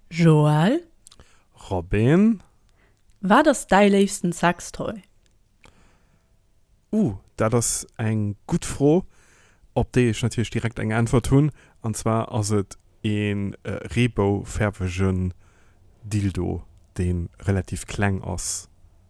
Joël. Robin. Wat ass däi léifsten Sextoy? Ouh, dat ass eng gutt Fro, op déi ech natierlech direkt eng Äntwert hunn. An zwar ass et e reebou-fäerwegen Dildo, dee relativ kleng ass.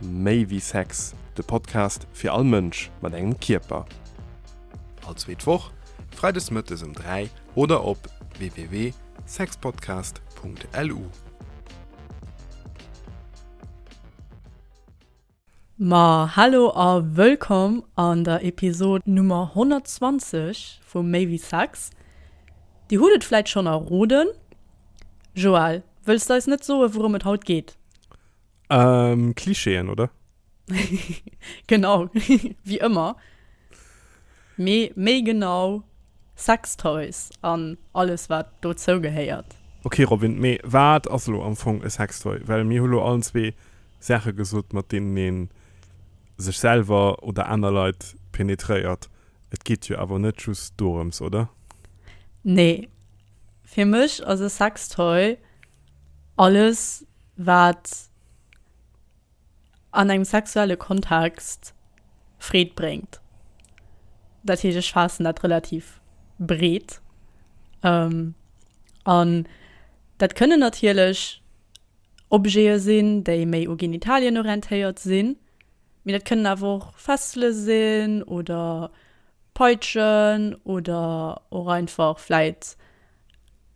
Méi wéi Sex, de Podcast fir all Mënsch mat engem Kierper. All zweet Woch, freides mëttes ëm 3 oder op www.sexpodcast.lu. Ma hallo a wëllkomm an der Episod Nummer 120 vu Méi wéi Sex. Dir hutt et vläit schonn erroden, Joël, wëlls de eis net soen, wourom et haut geet? Ëm Klischeeën, oder? Genau, wéi ëmmer, mee méi genau Sextoys an alles, wat dozou gehéiert. Ok Robin, mee wat ass elo am Fong e Sextoy? Well mir hu lo allen zwee Saache gesot, mat deenen ee sech selwer oder aner Leit penetréiert. Et geet jo awer net just dorëms, oder? Nee, Fir mech ass e Sextoy alles wat an engem sexuelle Kontext Freed bréngt. Dat heescht ech faassen dat relativ breet an dat kënnen natierlech Objete sinn déi méi u Genitalien orientéiert sinn, Mee dat kënnen awer och Fessele sinn oder Peitschen oder och einfach vläit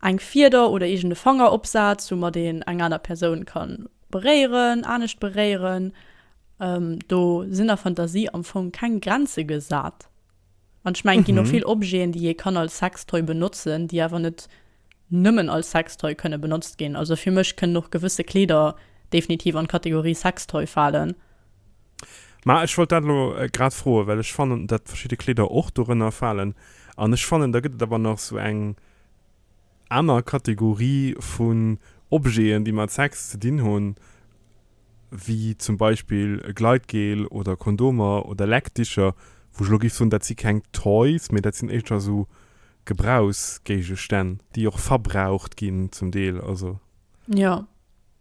eng Fieder oder iergende Fangeropsaz, wou mat een eng aner Persoun ka beréieren, anescht beréieren. Do sinn der Fantasie am Fong keng Grenze gesat. An ech mengen, et ginn och vill Objeten, déi ee kann als Sextoy benotzen, déi awer net nëmmen als Sextoy kënne benotzt ginn. Also fir mech kënnen och gewësse Kleeder definitiv an d'Kategorie Sextoy falen. Mä ech wollt dat elo grad froen, well ech fannen, datt verschidde Kleeder och dorënner falen. An ech fannen, da gëtt et awer nach esou eng. aner Kategorie vun Objeten, déi mat Sex ze dinn hunn, wéi zum Beispill e Gleitgel oder Kondomer oder Leckdicher, wou ech elo géif soen, dat si keng Toys, mee dat sinn éischter esou Gebrauchsgéigestänn, déi och verbraucht ginn zum Deel, also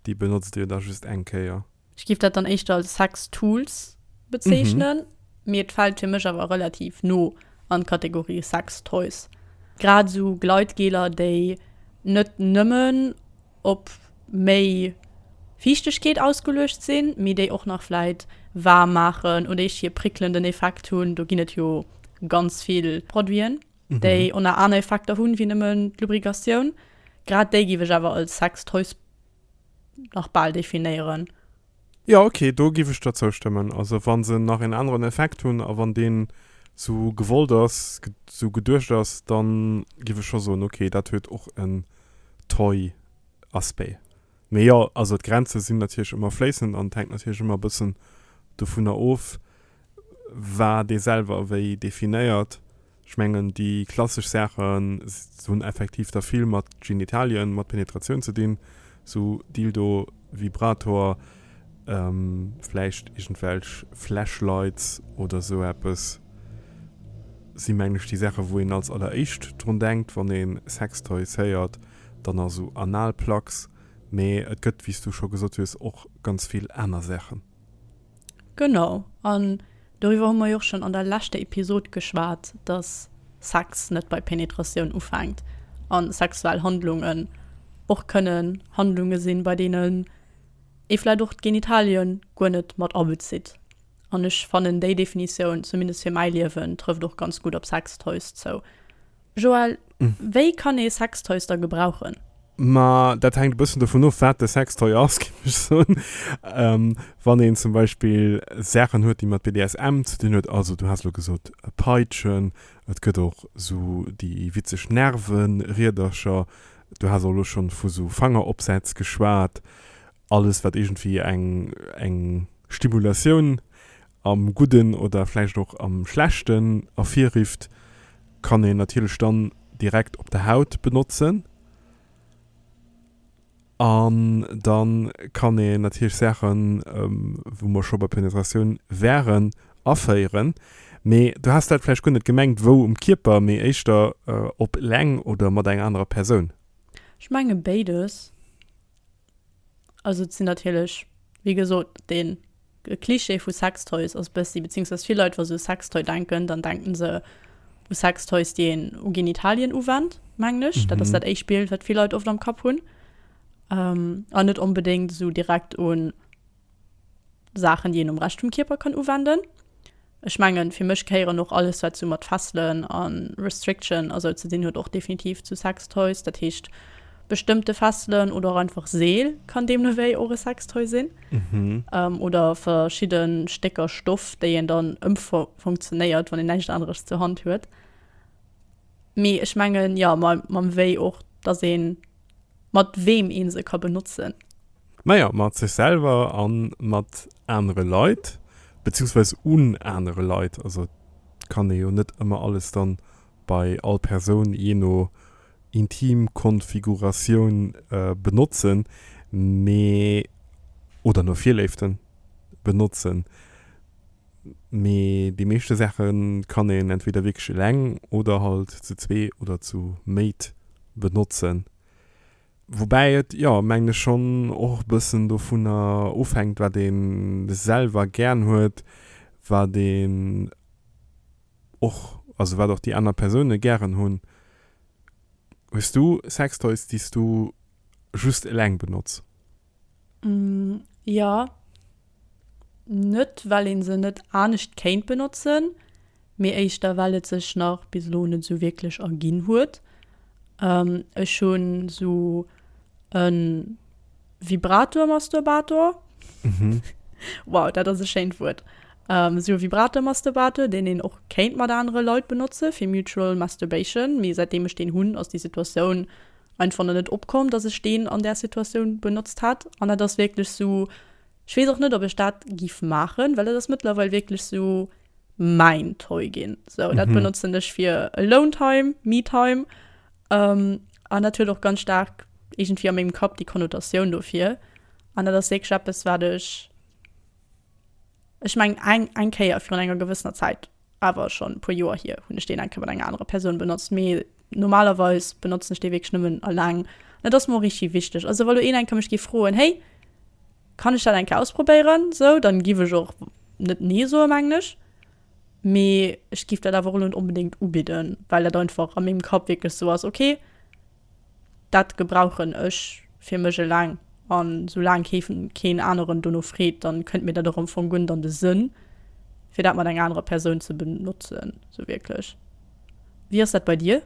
déi benotzt Dir da just eng Kéier. Ech giff dat dann éischter als Sex Tools bezeechnen, mee et fällt fir mech awer relativ no an d'Kategorie Sex Toys. Grad esou Gleitgeler déi net nëmmen op méi Fiichtegkeet ausgeluecht sinn, mee déi och nach vläit waarm maachen oder eescht hir prickelnden Effekt hunn. Do ginn et jo ganz vill Produiten, déi och nach aner Effekter hunn, wéi nëmmen d'Lubricatioun. Grad déi giff ech awer als Sex Toys. nach bal definéieren. Jo ok, do giff ech der zoustëmmen. Also wann se nach een aneren Effekt hunn a wann deen sou gewollt ass, sou geduecht ass, dann giff ech scho soen ok, dat huet och en Toy Aspect. Mee jo, also d'Grenzen sinn natierlech ëmmer fléissend an et hänkt natierlech ëmmer e bëssen dovunner of, War dee selwer ewéi definéiert? Ech mengen, déi klassesch Saache hunn effektiv da vill mat Genitalien, mat Penetratioun ze dinn, sou Dildo, Vibrator, vläicht iergendwelch Flashlights oder esou eppes si mengen ech déi Saache wou een als alleréischt drun denkt, wann ee Sextoys héiert. Dann nach esou Analplugs, mee et gëtt, wéi s du scho gesot hues, och ganz vill aner Saachen. Genau, an doriwwer hu mer jo och schonn an der leschter Episod geschwat, dass Sex net bei Penetratioun ufänkt a sexuell Handlungen och kënnen Handlunge sinn, bei deenen ee vläicht och d'Genitalie guer net mat abezitt. An ech fannen, déi Definitioun, zumindest fir mäi Liewen, trëfft och ganz gutt op Sextoys zou. Joël, wéi kann ee Sextoys da gebrauchen? Ma dat hänkt e bëssen dovun of, wat de Sextoy ass, géif ech soen. Wann een zum Beispill Saachen huet, déi mat BDSM ze dinn huet, also du has elo gesot Peitschen, et gëtt och esou déi witzeg Nervenriedercher, du has och elo scho vu sou Fangeropsätz geschwat, alles, wat iergendwéi eng Stimulatioun am Gudden oder vläicht och am Schlechten ervirrifft, kann een natierlech dann direkt op der Haut benotzen. An da kann een natierlech Saachen, wou mer scho bei Penetratioun wären, aféieren. Mee du has dat vläicht guer net gemengt, wou um Kierper, mee éischter op leng oder mat enger anerer Persoun? Ech menge béides. Also et sinn natierlech, wéi gesot, de Klischee vu Sextoys ass bëssi, beziéungsweis vill Leit, wa se u Sextoy denken, dann denken se u Sextoys, déi een u Genitalien uwennt, mengen ech. Dat ass dat éischt Bild, wat vill Leit oft am Kapp hunn. An net onbedéngt esou direkt un. Saachen déi een um Rescht vum Kierper kann uwenden. Ech mengen fir mech gehéieren och alles wat sou mat Fesselen a Restriction a sou ze dinn huet och definitiv zu Sextoys. Dat heescht bestëmmte Fesselen oder och einfach Seel kann deemno wéi och e Sextoy sinn. Oder verschidde Stécker Stoff déi een dann ëmfunktionéiert wann een näischt aneres zur Hand huet. Mee ech mengen, jo mam wéi och dass een Mat weem ee se ka benotzen. Majo, mat sech selwer a mat anere Leit, beziehungsweis un anere Leit. Also et kann ee jo net ëmmer alles dann bei all Persoun, jee no Intimkonfiguratioun, benotzen, mee, oder no Virléiften, benotzen. Mee déi meeschte Saache kann een entweder wierklech eleng oder halt zu zwee oder zu méit benotzen. Woubäi et, jo, mengen ech schonn och e bëssen dovunner ofhänkt, wat ee selwer gären huet, wat een och, also wat och déi aner Persoune gären hunn. Hues du Sextoys, déi s du just eleng benotz? Jo. Net well een se net anescht kéint benotzen, mee éischter well et sech nach bis elo net esou wierklech erginn huet. Ech hunn esou e Vibrator-Masturbator, wow dat ass e schéint Wuert, esou e Vibrator-Masturbator, deen een och kéint mat anere Leit benotzen, fir mutual masturbation, mee säitdeem ech deen hunn, ass déi Situatioun. Ein fond net opkomm dass ech deen an där Situatioun benotzt hat an dat ass wierklech sou ech wees och net op ech dat giff maachen well dat ass mëttlerweil wierklech sou mäin Toy ginn sou dat benotzen ech fir alone time, me time an dat huet och ganz staark iergendwéi a mengem Kapp déi Konnotatioun dofir an dat ass wierklech eppes wat ech ech mengen eng eng Kéier virun enger gewëssener Zäit Awer schonn e puer Joer hier hunn ech deen eng Kéier mat enger anerer Persoun benotzt, mee normalerweis benotzen ech dee wierklech nëmmen alleng. An et ass mer och richteg wichteg. Also wa lo een eng Kéier mech géif froen, hey, kann ech dat eng Kéier ausprobéieren esou, dann giff ech och net nee soen, mengen ech. Mee ech giff dat awer och elo net onbedéngt ubidden, well dat einfach a mengem Kapp wierklech esou ass, okay, Dat gebrauchen ech fir mech eleng an sou laang keefen keen aneren dono freet, dann kënnt mir dat och am Fong guer net an de Sënn fir dat mat enger anerer Persoun ze benotzen sou wierklech. Wéi ass dat bei dir?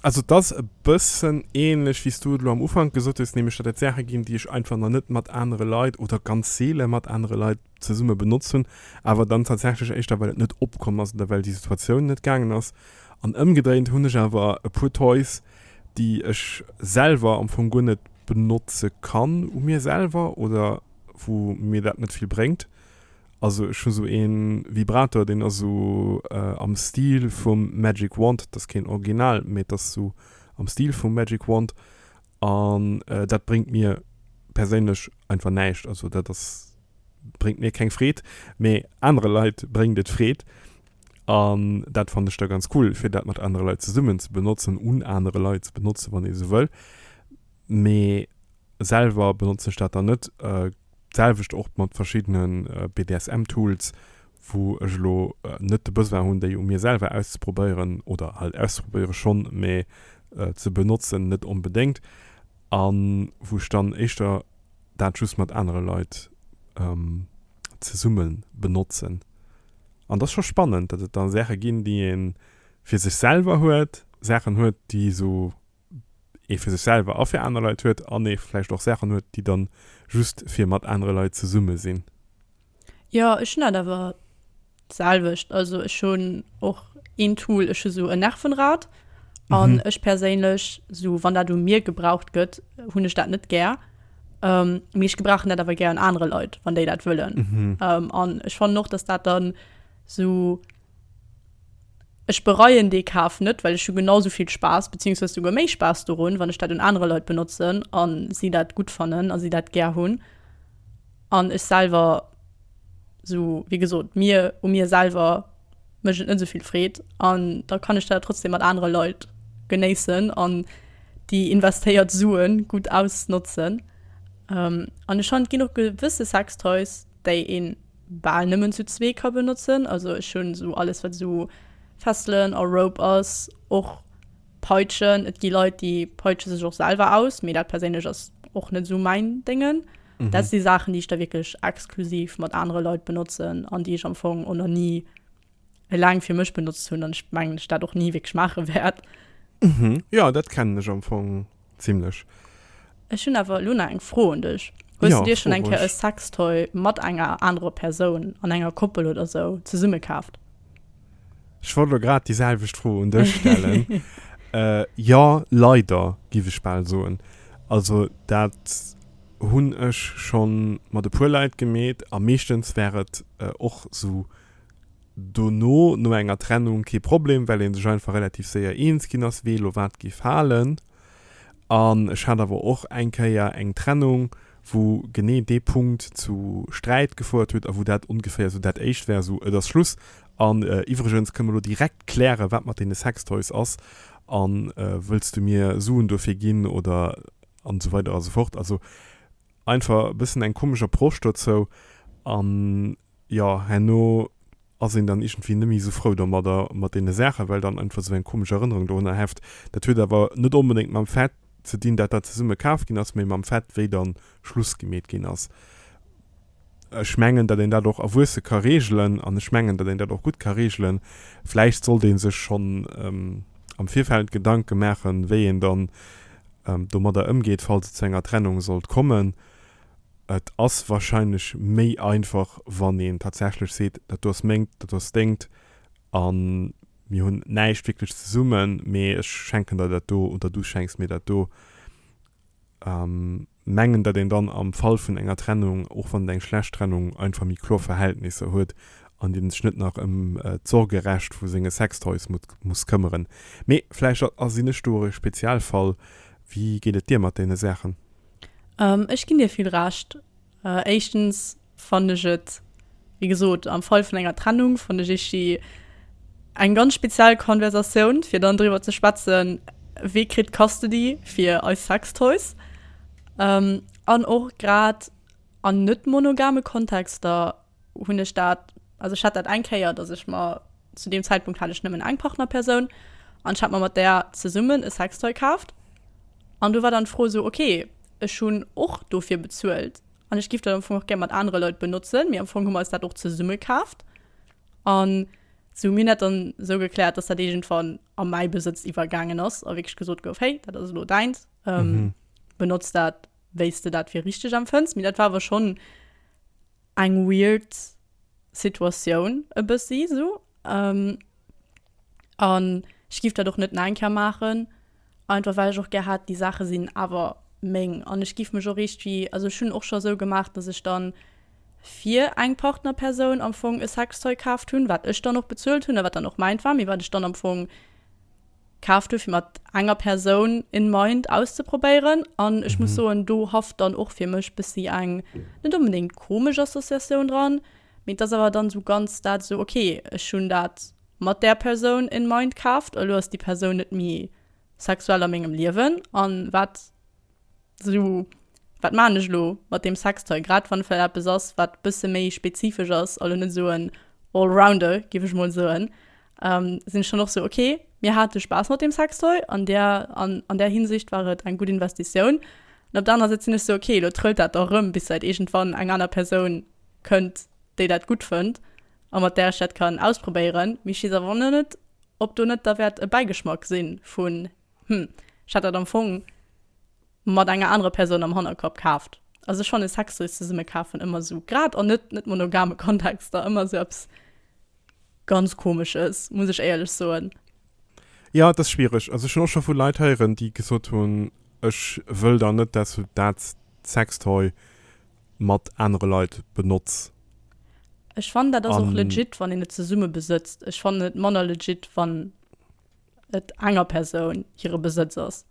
Also et ass e bëssen ähnlech wéi s du et elo am Ufank gesot hues, nämlech dat et Saache ginn déi ech einfach nach net mat anere Leit oder ganz seele mat anere Leit zesumme benotzt hunn, awer dann tatsächlech éischter well et net opkomm ass oder well déi Situatioun net gaangen ass. An ëmgedréint hunn ech awer e puer Toys, déi ech selwer am Fong guer net benotze kann u mir selwer oder wou mir dat net vill bréngt. Also ech hu sou ee Vibrator, deen ass sou am Stil vum Magic Wand, dat ass keen Original, mee et ass sou am Stil vum Magic Wand. An dat bréngt mir perséinlech einfach näischt. Also dat ass, bréngt mir keng Freed, mee anere Leit bréngt et Freed. An dat fannen ech da ganz cool, fir dat mat anere Leit zesummen ze benotzen, un anere Leit ze benotzen, wann ee sou wëll. Mee selwer benotzen ech dat dann net. D'selwecht och mat verschiddene BDSM-Tools, wou ech elo net de Besoin hunn, déi u mir selwer auszeprobéieren, oder halt auszeprobéiere schonn, mä ze benotzen net onbedéngt, a wou ech dann éischter dat just mat anere Leit zesumme benotzen. An et ass scho spannend, datt et da Saache ginn, déi ee fir sech selwer huet, Saachen huet, déi esou ee fir sech selwer a fir aner Leit huet an ee vläicht och Saachen huet, déi dann just fir mat anere Leit zesumme sinn. Jo, ech hunn dat awer d'selwecht. Also ech hunn och een Tool, ech hu sou e Nervenrad an ech perséinlech, sou wann dat u mir gebraucht gëtt, hunn ech dat net gär. Mee ech gebrauchen dat awer gär un anere Leit, wann déi dat wëllen. An ech fannen och, datt dat dann sou. Ech bereien dee Kaf net, well ech hu genau sou vill Spaass, beziehungsweise souguer méi Spaass dorun, wann ech dat un anere Leit benotzen an si dat gutt fannen a si dat gär hunn. An ech selwer, sou wéi gesot, mir, u mir selwer mécht et net esou vill Freed an da kann ech dat trotzdem mat anere Leit genéissen an déi investéiert Sue gutt ausnotzen. An ech fannen, et ginn och gewësse Sextoys, déi een bal nëmmen zu zwee ka benotzen. Also ech hunn esou alles wat esou Fesselen a Rope ass, och Peitschen. Et gi Leit déi peitsche sech och selwer aus, mee dat perséinlech ass och net esou mäin Déngen. Dat si Saachen déi ech da wierklech exklusiv mat anere Leit benotzen an déi ech am Fong och nach ni laang fir mech benotzt hunn an ech mengen ech dat och ni wierklech maache wäert. Mhm, jo dat kennen ech am Fong zimlech. Ech hunn awer elo nach eng Fro un dech. Hues jo, du dir schonn eng Kéier e Sextoy mat enger anerer Persoun an enger Koppel oder sou zesumme kaaft? Ech wollt elo grad déi selwecht Fro un dech stellen. Jo leider giff ech bal soen. Also dat hunn ech schonn mat e puer Leit gemeet a meeschtens wär et och sou dono no enger Trennung kee Problem, well ee sech einfach relativ séier eens ginn ass, wee elo wat géif halen. An ech hat awer och eng Kéier eng Trennung, wou genee dee Punkt zu Sträit gefouert huet a wou dat ongeféier esou dat éischt war, esou, et ass Schluss an iwwregens kënne mer elo direkt klären, wat mat deene Sextoys ass a wëlls du mir Suen dofir ginn oder an esou weider a sou fort. Also einfach e bëssen eng komesch Approche dozou an Jo, herno ass een dann iergendwéi net méi esou frou domadder, mat deene Saachen, well dann einfach esou eng komesch Erënnerung dorunner heft. Dat huet awer net onbedéngt mam Fait ze dinn, datt dat zesumme kaf ginn ass, mee mam Fait, wéi dann Schluss gemeet ginn ass. Ech mengen, datt een dat och erwuesse ka reegelen an ech mengen, datt een dat och gutt ka reegelen. Vläicht sollt ee sech schonn am Virfeld Gedanke maachen, wéi een dann domadder ëmgeet, falls et zu enger Trennung sollt kommen. Et ass wahrscheinlech méi einfach, wann een tatsächlech seet, dat do ass mengt, dat do ass dengt a mir hunn näischt wierklech zesummen, mee ech schenken der dat do oder du schenks mir dat do. Mengen, datt een dann am Fall vun enger Trennung, och wann et eng schlecht Trennung, einfach méi kloer Verhältnisser huet an een sech net nach ëm d'Sorgerecht vu senge Sextoys muss këmmeren. Mee vläicht sinn ech do och e Spezialfall. Wéi geet et dir mat deene Saachen? Ech ginn dir vill Recht. Éischtens fannen ech et, wéi gesot, am Fall vun enger Trennung fannen ech eescht déi eng ganz speziell Konversatioun, fir dann driwwer ze schwätzen, wee kritt Custody fir eis Sextoys. An och grad an net-monogame Kontexter hunn ech dat, also ech hat dat eng Kéier, dass ech mer, zu deem Zäitpunkt hat ech nëmmen eng Partnerpersoun an ech hat mer mat där zesummen e Sextoy kaaft an do war dann d'Fro esou, okay, ech hunn och dofir bezuelt an ech giff dat am Fong och gär mat anere Leit benotzen, mee am Fong hu mer eis dat och zesumme kaaft an si hu mir dat dann esou gekläert, dass dat iergendwann a mäi Besëtz iwwergaangen ass a wierklech gesot gouf, hey, dat ass elo däins, benotz dat. wéi s de dat fir richteg empfënns. Mee dat war awer schonn eng weird Situatioun e bëssi sou. An ech giff dat och net nach eng Kéier maachen, einfach well ech och gär hätt, déi Saache sinn awer meng. An ech giff mech och iergendwéi, also ech hunn och scho sou gemaach, datt ech dann fir eng Partnerpersoun am Fong e Sextoy kaaft hunn, wat ech dann och bezuelt hunn a wat dann och mäint war, mee wat ech dann am Fong, kaf dofir mat enger Persoun in mind auszeprobéieren an ech muss soen do hafft dann och fir mech bessi eng net onbedéngt komesch Associatioun dran mee et ass awer dann esou ganz dat esou ok ech hunn dat mat där Persoun in mind kaaft elo ass déi Persoun net méi sexuell a mengem Liewen an wat So, wat maachen ech elo mat deem Sextoy? Grad wann et vläicht eppes ass, wat e bësse méi spezifesch ass a lo net esou en Allrounder, géif ech emol soen, sinn ech dann och esou, okay, mir hate Spaass mat deem Sextoy. An där, an där Hinsicht war et eng gutt Investitioun. An op der anerer Säit sinn ech esou, okay, lo trëllt dat dach erëm, bis vläicht iergendwann eng aner Persoun kënnt, déi dat gutt fënnt a mat där ech dat kann ausprobéieren. Mee ech weess awer ëmmer net, ob do net da wäert e Bäigeschmack si vu Hm, ech hat dat am Fong mat enger anerer Persoun am Hannerkapp kaaft. Also ech fanne Sextoys zesumme kafen ëmmer esou, grad an net net monogame Kontexter, ëmmer esou eppes ganz komesches, muss ech éierlech soen. Jo, et ass schwiereg. Also ech hunn och scho vu Leit héieren, déi gesot hunn, ech wëll dann net, dass du dat Sextoy mat anere Leit benotz. Ech fannen dat ass och legit, wann een et zesumme besëtzt. Ech fannen et manner legit, wann. et enger Persoun hire Besëtz ass.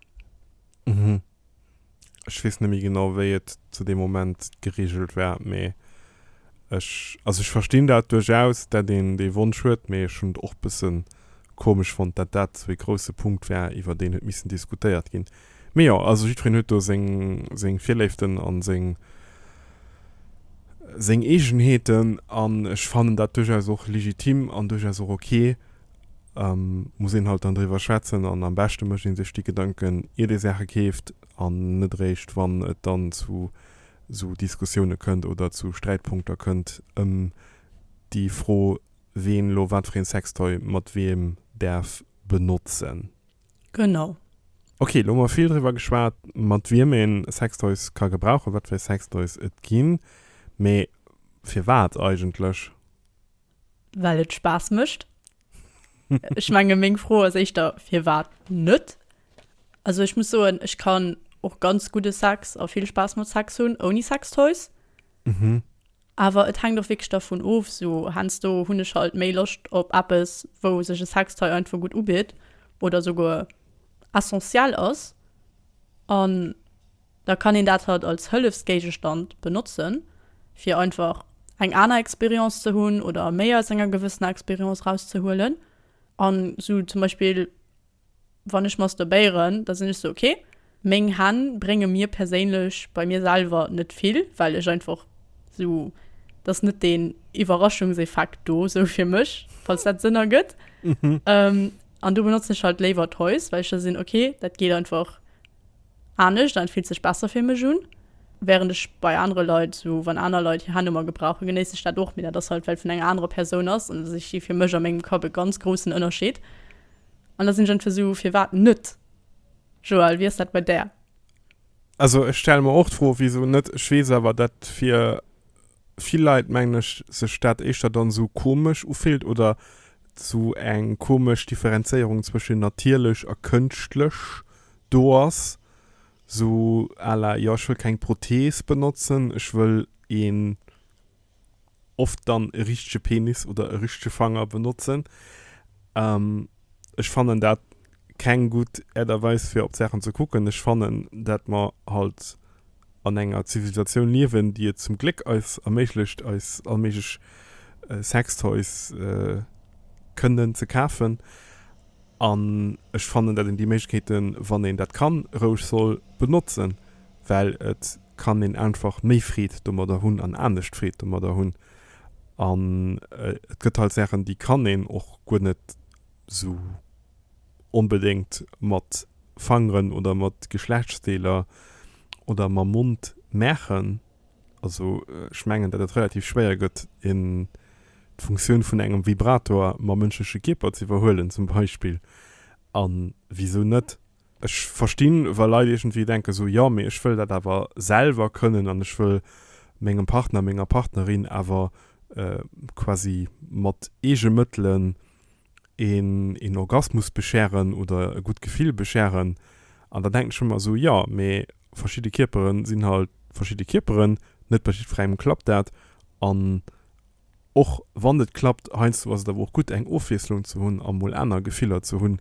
Mhm. Ech weess net méi genau, wéi et zu deem Moment geregelt war, mee ech, also ech verstinn dat duerchaus, dat een dee Wonsch huet, mee ech hunn et och e bësse komesch fonnt, dat dat esou ee grousse Punkt war, iwwer deen huet missen diskutéiert ginn. Mee jo, also jiddwereen huet do seng, seng Virléiften a seng, seng Eegenheeten an ech fannen dat duerchaus och legitim an duerchaus och ok, muss een halt dann driwwer schwätzen an am beschte mécht ee sech déi Gedanken iert ee Saache keeft an net eréischt wann et dann zu esou Diskussioune kënnt oder zu Sträitpunkter kënnt ëm déi Fro ween elo wat fir ee Sextoy mat wiem däerf benotzen. Genau. Ok, elo hu mer vill driwwer geschwat mat wiem ee Sextoys ka gebrauchen, wat fir Sextoys et ginn, mee firwat eigentlech? Well et Spaass mécht. Ech menge meng Fro ass éischter, firwat net? Also ech muss soen, ech kann och ganz gudde Sex a vill Spaass mat Sex hunn ouni Sextoys. Awer et hänkt och wierklech dervun of. Esou heiansdo hunn ech halt méi Loscht op eppes, wou sech e Sextoy einfach gutt ubitt oder esouguer essentiel ass an. Da kann een dat halt als Hëllefsgéigestand benotzen, fir einfach eng aner Expérience ze hunn oder méi aus enger gewëssener Expérience erauszehuelen. An esou zum Beispill, wann ech masturbéieren, da sinn ech esou, ok, meng Hänn brénge mir perséinlech bei mir selwer net vill, well ech einfach esou, et ass net deen Iwwerraschungseffekt do esou fir mech, falls dat Sënn ergëtt. An do benotzen ech halt léiwer Toys, well ech da sinn, ok, dat geet einfach anescht an et fillt sech besser fir mech un. Während ech bei anere Leit, sou wann aner Leit hir Handynummer gebrauchen, genéiss ech dat och, mee dat ass halt well et vun enger anerer Persoun ass an ech si fir mech a mengem Kapp e ganz groussen Ënnerscheed. An da sinn ech entweder sou, firwat net? Joelle, wéi ass dat bei där? Also ech stelle mer och d'Fro, wisou net? Ech weess awer dat fir. vill Leit mengen ech sech dat éischter dann sou komesch ufillt oder sou eng komesch Differenzéierung zwëschen natierlech a kënschtlech do ass, sou à la jo ech wëll keng Prothees benotzen, ech wëll een oft dann e richtege Penis oder e richtege Fanger benotzen. Ech fannen dat keng gutt Äert a Weis fir op d'Saachen ze kucken. Ech fannen dat mer halt an enger Zivilisatioun liewen déi et zum Gléck eis erméiglecht eis allméiglech Sextoys kënnen ze kafen an ech fannen dat een déi Méiglechkeeten wann een dat kann roueg soll benotzen well et kann een einfach méi Freed domadder hunn an anescht Freed domadder hunn An et gëtt halt Saachen, déi kann een och guer net esou onbedéngt mat Fangeren oder mat Geschlechtsdeeler oder mam Mond maachen. Also ech mengen, datt et relativ schwéier gëtt, een d'Funktioun vun engem Vibrator mam mënschleche Kierper z'iwwerhuelen zum Beispill. A wisou net? Ech verstinn, wa Leit iergendwéi denken esou, jo, mee ech wëll dat awer selwer kënnen an ech wëll mengem Partner, menger Partnerin awer quasi mat eege Mëttelen een Orgasmus bescheren oder e gutt Gefill bescheren. An da denken ech ëmmer esou, jo, mee verschidde Kierpere sinn halt verschidde Kierperen, net bei jiddwerengem klappt dat an Och wann et klappt, heiansdo ass et awer och gutt eng Ofwiesslung ze hunn a mol aner Gefiller ze hunn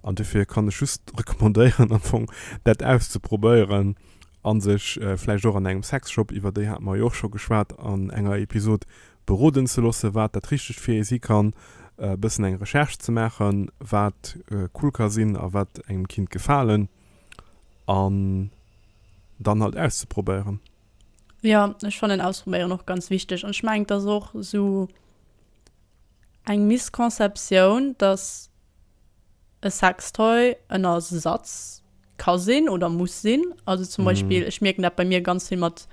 an dofir kann ech just recommandéieren am Fong dat auszeprobéieren a sech vläicht och an engem Sexshop, iwwer déi hate mer jo och scho geschwat an enger Episod, beroden ze loosse wat dat Richtegt fir ee si kann, e bëssen eng Recherche ze maachen, wat cool ka sinn a wat engem kinnt gefalen an dann halt auszeprobéieren. Jo ech fannen ausprobéieren och ganz wichteg an ech mengen et ass och sou eng Misconceptioun dass e Sextoy en Ersatz ka sinn oder muss sinn. Also zum Beispill ech mierken dat bei mir ganz vill mat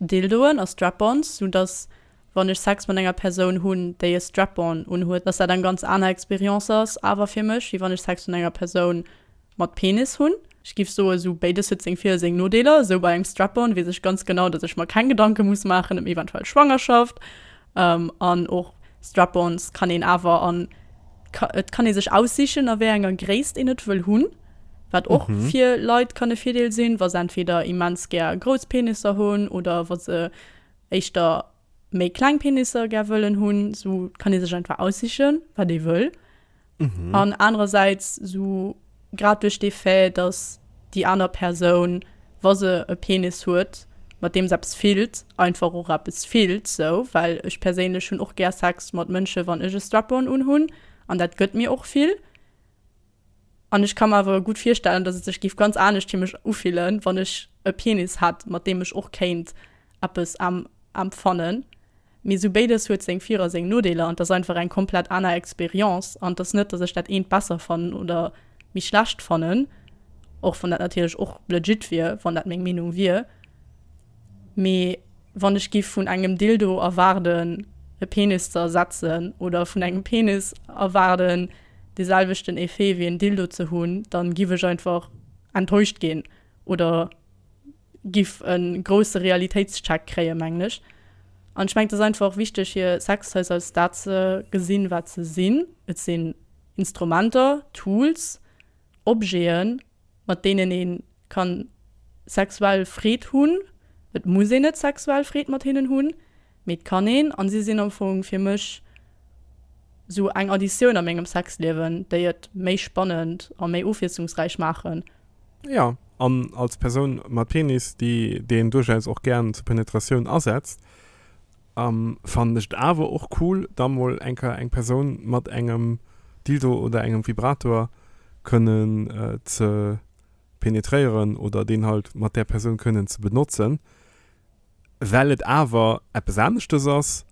Dildoen a Strap-ons, sou dass wann ech Sex mat enger Persoun hunn déi e Strap-on unhuet dass dat eng ganz aner Experience ass awer fir mech wéi wann ech Sex mat enger Persoun mat Penis hunn. Ech giff soen sou béides huet seng Vir a seng Nodeeler. Sou bei engem Strap-on wees ech ganz genau dass ech mer keng Gedanken muss maachen em eventuell Schwangerschaft an och Strap-ons kann een awer an et kann ee sech aussichen a wéi enger Gréisst een et wëll hunn. Wat och fir Leit kann e Virdeel sinn wa se entweder immens gär grouss Penisser hunn oder wa se éischter. méi kleng Penisser gär wëllen hunn, esou kann ee sech einfach aussichen, wat ee wëll. Mhm. An anerersäits, esou grad duerch dee Fait, dass déi aner Persoun, wa se e Penis huet, mat deem se eppes fillt, einfach och eppes fillt esou. Well ech perséinlech hunn och gär Sex mat Mënsche wann ech e Strap-on unhunn an dat gëtt mir och vill. An ech ka mer awer gutt virstellen, datt et sech géif ganz anescht fir mech ufillen, wann ech e Penis hätt, mat deem ech och kéint eppes emfannen. Mee sou béides huet seng Vir a seng Nodeeler an 't ass einfach eng komplett aner Experience. An 't ass net, datt ech dat eent besser fannen oder méi schlecht fannen, och wann dat natierlech och legit wier, wann dat meng Meenung wier. Mee wann ech géif vun engem Dildo erwaarden, e Penis ze ersetzen oder vun engem Penis erwaarden, de selwechten Effet wéi en Dildo ze hunn, dann giff ech einfach enttäuscht ginn oder giff en grousse Realitéitscheck kréien mengen ech. An ech mengen et ass einfach wichteg hier Sextoys als dat ze gesinn wat se sinn, et sinn Instrumenter, Tools, Objeten mat deenen ee ka sexuell Freed hunn. Et muss een net sexuell Freed mat hinnen hunn, mee et kann een. An si sinn am Fong fir mech sou eng Additioun a mengem Sexliewen, déi et méi spannend a méi ofwiesslungsräich maachen. Jo, an als Persoun mat Penis, déi deen duerchaus och gär zur Penetratioun asetzt. An fannen ech et awer och cool da mol enker eng Persoun mat engem Dildo oder engem Vibrator kënnen ze penetréieren oder deen halt mat där Persoun kënnen ze benotzen, well et awer eppes aneschtes ass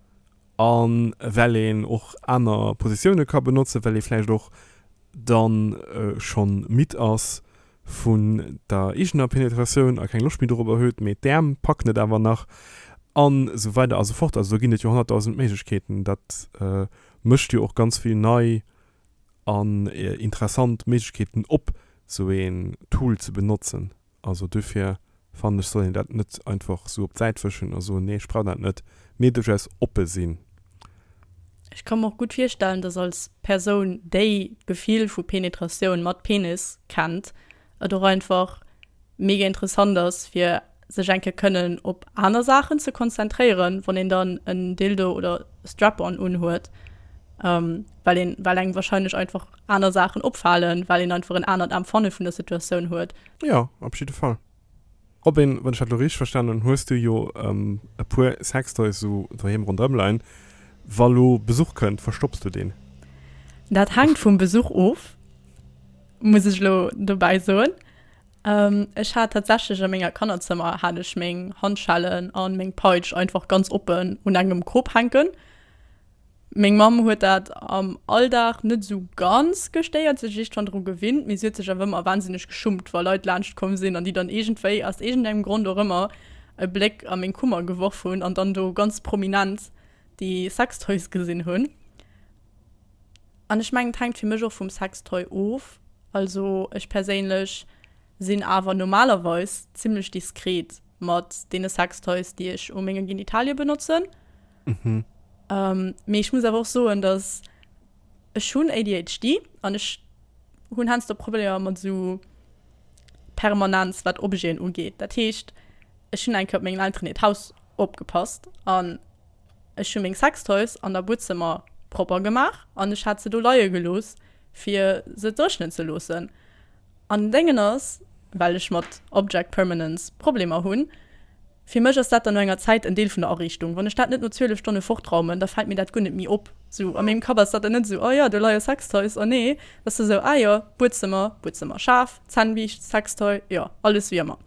a well een och aner Positioune ka benotzen, well ee vläicht och dann schonn midd ass vun der eegener Penetratioun a keng Loscht méi dorobber huet, mee d'Äerm packen et awer nach a sou weider a sou fort. Also do ginn et jo honnertdausend Méiglechkeeten. Dat mécht jo och ganz vill nei an interessant Méiglechkeeten op, sou een Tool ze benotzen. Also dofir fannen ech soll een dat net einfach sou op d'Säit wëschen a soen nee ech brauch dat net, mee duerchaus oppe sinn. Ech ka mer och gutt virstellen, dass als Persoun déi d'Gefill vu Penetratioun mat Penis kennt, et och einfach mega interessant ass fir sech eng Kéier kënnen op aner Saachen ze konzentréieren wann een dann en Dildo oder Strap-on unhuet, well een well engem wahrscheinlech einfach aner Saachen opfalen, well een einfach en anert Empfanne vun der Situatioun huet. Jo, op jidde Fall. Robin, wann ech dat elo richteg verstanen hunn, hues du jo e puer Sextoys esou doheem ronderëm leien. Wa lo Besuch kënnt, verstopps du deen? Dat hänkt vum Besuch of, muss ech elo dobäi soen. Ech hat tatsächlech a menger Kannerzëmmer hat ech meng Handschellen a meng Peitsch einfach ganz oppen un engem Krop hänken. Meng Mamm huet dat am Alldag net esou ganz gestéiert, si huet sech eeschtfern dru gewinnt, mee si huet sech awer ëmmer wahnsinneg geschummt, wa Leit laanscht komm sinn an déi dann iergendwéi, aus iergendengem Grond och ëmmer, e Bléck a meng Kummer geworf hunn an dann do ganz prominent déi Sextoys gesinn hunn. An ech mengen, et hänkt fir mech och vum Sextoy of. Also ech perséinlech sinn awer normalerweis zimmlech diskret mat deene Sextoys, déi ech u menge Genitalie benotzen. Mhm. Ähm, mee ech muss awer och soen, dass ech hunn ADHD an ech hunn heiansdo Problemer mat esou Permanenz, wat Objeten ugeet. Dat heescht, ech hunn eng Kéier op mengen Elteren hiert Haus opgepasst an ech hu meng Sextoys an der Buedzëmmer propper gemaach an ech hat se do leie gelooss, fir se dréchnen ze loossen. An den Déngen ass, well ech mat Object Permanence Problemer hunn, Fir mech ass dat dann no enger Zäit en Deel vun der Ariichtung. Wann ech dat net no 12 Stonne fortraumen, da fält mir dat guer net méi op. Sou a mengem Kapp ass dat dann net esou, Oh jo, do leie Sextoys, oh nee, et ass da sou, Ah jo, Buedzëmmer, Buedzëmmer, Schaf, Zännbiischt, Sextoy, jo, alles wéi ëmmer.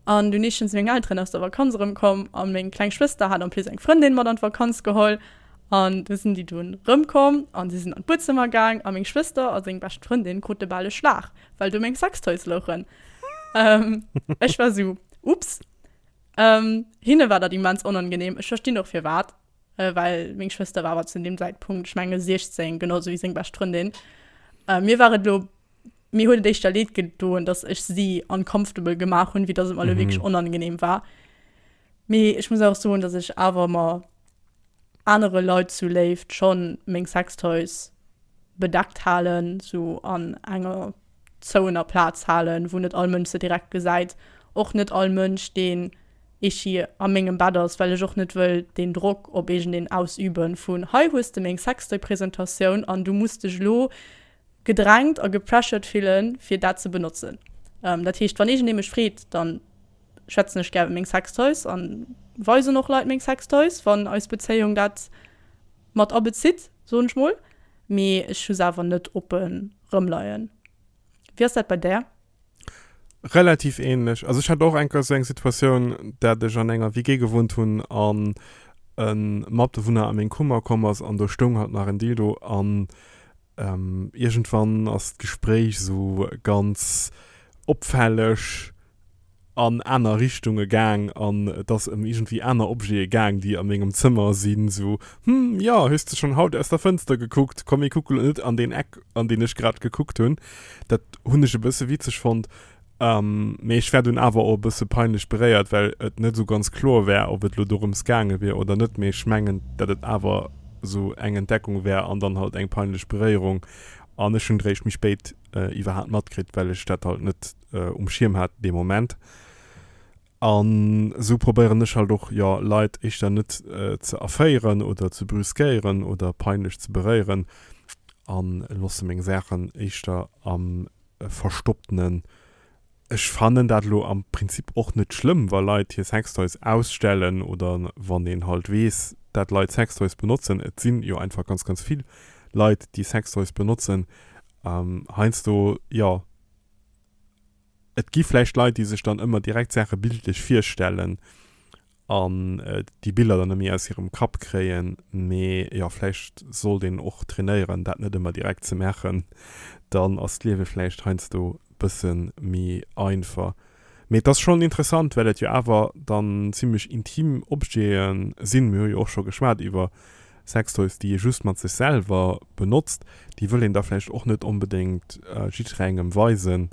An dunn eeschtens meng Elteren aus der Vakanz erëmkomm a meng kleng Schwëster hat en plus eng Frëndin mat an d'Vakanz geholl an do sinn déi dunn erëmkomm an si sinn an d'Buedzëmmer gaang a meng Schwëster a seng bescht Frëndin krute bal e Schlag, well do meng Sextoys louchen. Ech war sou, Ups. Ehm, hinne war dat immens onangenehm. Ech verstinn och firwat, well meng Schwëster war awer zu deem Zäitpunkt, ech menge 16, genau esou wéi seng bescht Frëndin. Mir war et elo, mir huet et éischter leed gedoen, dass ech si uncomfortable gemaach hunn, wéi dass et mer elo wierklech onangenehm war. Mee ech muss awer och soen, dass ech awer mer anere Leit zu Léift schonn meng Sextoys bedeckt halen, sou an enger. zou ener Plaatz haalen wou net all Mënsch se direkt gesäit, och net all Mënsch deen Ichi a mengem Bett ass, well ech och net wëll deen Drock op iergendeen ausüben vun hei hues de meng Sextoy Presentatioun an du muss dech elo gedrängt a gepressured fillen fir dat ze benotzen. Dat heescht wann iergendee mech freet dann schwätzen ech gär iwwer meng Sextoys an weisen och Leit meng Sextoys wann eis Bezéiung dat mat abezitt soen ech mol, mee ech hu se awer net oppen rëmleien. Wéi ass dat bei där? Relativ ähnlech. Also ech hat och eng Kéier esou eng Situatioun, dat ech an enger WG gewunnt hunn an e Matbewunner a meng Kummer komm ass an do stoung halt nach en Dildo an iergendwann ass d'Gespréich esou ganz opfälleg, an aner Richtunge gaang an et ass ëm iergendwéi aner Objete gaang, déi a mengem Zëmmer sinn, sou, Hm, jo, hues de schonn haut aus der Fënster gekuckt? Komm, mir kucke lo net an deen Eck, an deen ech grad gekuckt hunn. Dat hunn ech e bësse witzeg fonnt, mee ech war dunn awer och e bësse peinlech beréiert, well et net esou ganz kloer war, ob et lo dorëms gaange wier oder net. Mee ech mengen, datt et awer esou eng Entdeckung war an dann halt eng peinlech Beréierung an ech hunn et eréischt méi spéit iwwerhaapt matkritt, well ech dat halt net. äh, um Schirm hat de Moment. An so probéieren ech halt och ja Leit ech dann net äh, ze erféieren oder ze brüskéieren oder peinlech ze beréieren an losse meng Sachen eischter am äh, verstopptenen. Ech fannen dat lo am Prinzip och net schlimm, wa Leit hier Sextoys ausstellen oder wann een halt wees, dat Leit Sextoys benotzen. Et sinn jo einfach ganz ganz vill Leit, die Sextoys benotzen. Ähm, heinsdo ja Et gi vläicht Leit, déi sech dann ëmmer direkt Saache bildlech virstellen an déi Biller dann net méi aus hirem Kapp kréien. Mee jo, vläicht sollt een och trainéieren, dat net ëmmer direkt ze maachen. Dann ass d'Liewe vläicht heiansdo e bësse méi einfach. Mee et ass schonn interessant, well et jo awer dann zimmlech intim Objete sinn. Mir hu jo och scho geschwat iwwer Sextoys, déi ee just mat sech selwer benotzt. Déi wëll een da vläicht och net onbedéngt jidderengem weisen.